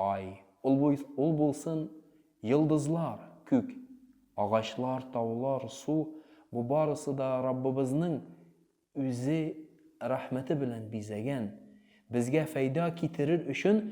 Ай, ул буй, ул булсын, йолдызлар, күк, агачлар, таулар, су, бу барысы да Раббыбызның Үзе рәхмәте белән бизәгән, безгә фәйда китерер өчен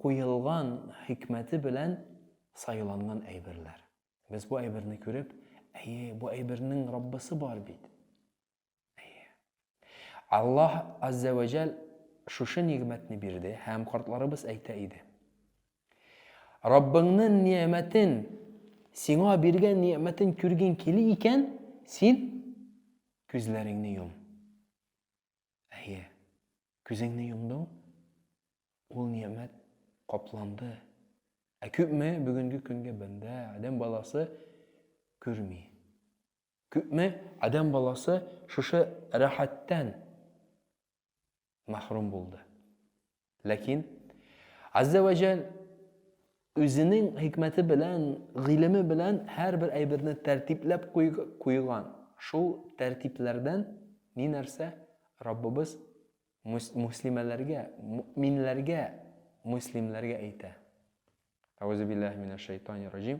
куелган хикмәте белән сайланган әйберләр. Без бу әйберне күреп, Әйе, бу әйбернең Раббысы бар бит! Аллаһ Аззә вә Жәл шушы нигъмәтне бирде һәм картларыбыз әйтә иде. Раббыңның ниәмәтен, сиңа биргән ниәмәтен күргең кили икән, син күзләреңне йом. Әйе, күзеңне йомдың, ул ниәмәт капланды. Ә күпме бүгенге көнгә бәндә, адәм баласы күрми. Күпме адәм баласы шушы рәхәттән мәхрүм булды. Ләкин Аззә вә Җәл үзенең хикмәте белән, гыйлеме белән һәрбер әйберне тәртипләп куйган. Шул тәртипләрдән ни нәрсә Раббыбыз муслимәләргә, мөминләргә, муслимләргә әйтә. Әгъүзү биллаһи минәш шәйтанир раҗим.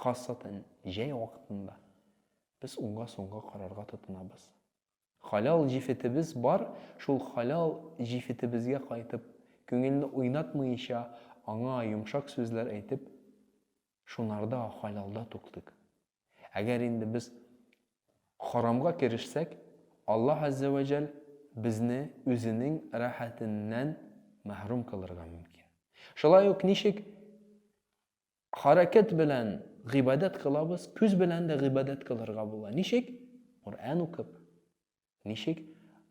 Хасатан җәй вакытында без уңга-сулга карарга тотынабыз. Халал җефетебез бар, шул халал җефетебезгә кайтып, күңелне уйнатмыйча, аңа йомшак сүзләр әйтеп, шунарда халалда туктыйк. Әгәр инде без харамга керешсәк, Аллаһ аззә вә җәл безне үзенең рәхәтеннән мәһрүм кылырга мөмкин. Шулай ук ничек Хәрәкәт белән гыйбадәт кылабыз, күз белән дә гыйбадәт кылырга була. Ничек? Коръән укып. Ничек?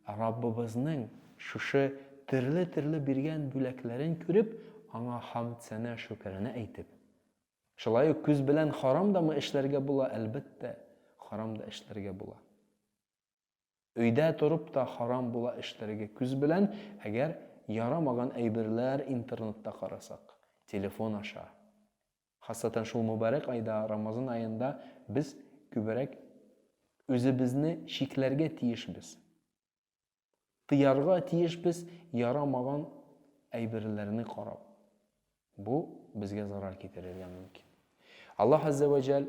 Раббыбызның шушы төрле-төрле биргән бүләкләрен күреп, аңа хамд сәнә шөкеренә әйтеп. Шулай ук күз белән харам дамы эшләргә була, әлбәттә, харам да эшләргә була. Өйдә торып та харам була эшләргә күз белән, әгәр ярамаган әйберләр интернетта карасак, телефон аша. Хасатан шул мөбарәк айда, Рамазан аенда без күберәк үзебезне чикләргә тиешбез. Тыярга тиешбез ярамаган әйберләрне карап. Бу безгә зарар китерергә мөмкин. Аллаһ Аззә вә Җәл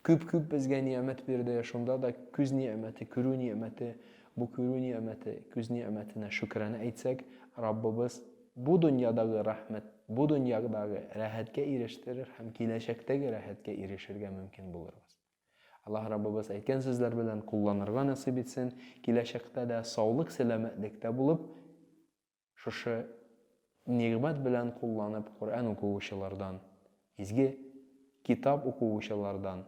күп-күп безгә ниәмәт бирде, шунда да күз ниәмәте, күрү ниәмәте, бу күрү ниәмәте, күз ниәмәтенә шөкранә әйтсәк, Раббыбыз бу дөньядагы рәхмәт, бу дөньядагы рәхәткә ирештерер һәм киләчәктәге рәхәткә ирешергә мөмкин булырбыз. Аллаһ Раббыбыз әйткән сүзләр белән кулланырга насыйп итсен, киләчәктә дә саулык-сәламәтлектә булып, шушы нигъмәт белән кулланып Коръән укуучылардан, изге китап укуучылардан,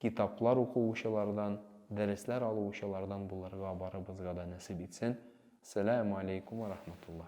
китаплар укуучылардан, дәресләр алуучылардан булырга барыбызга да насыйп итсен. Сәләму алейкум вә рахматулла.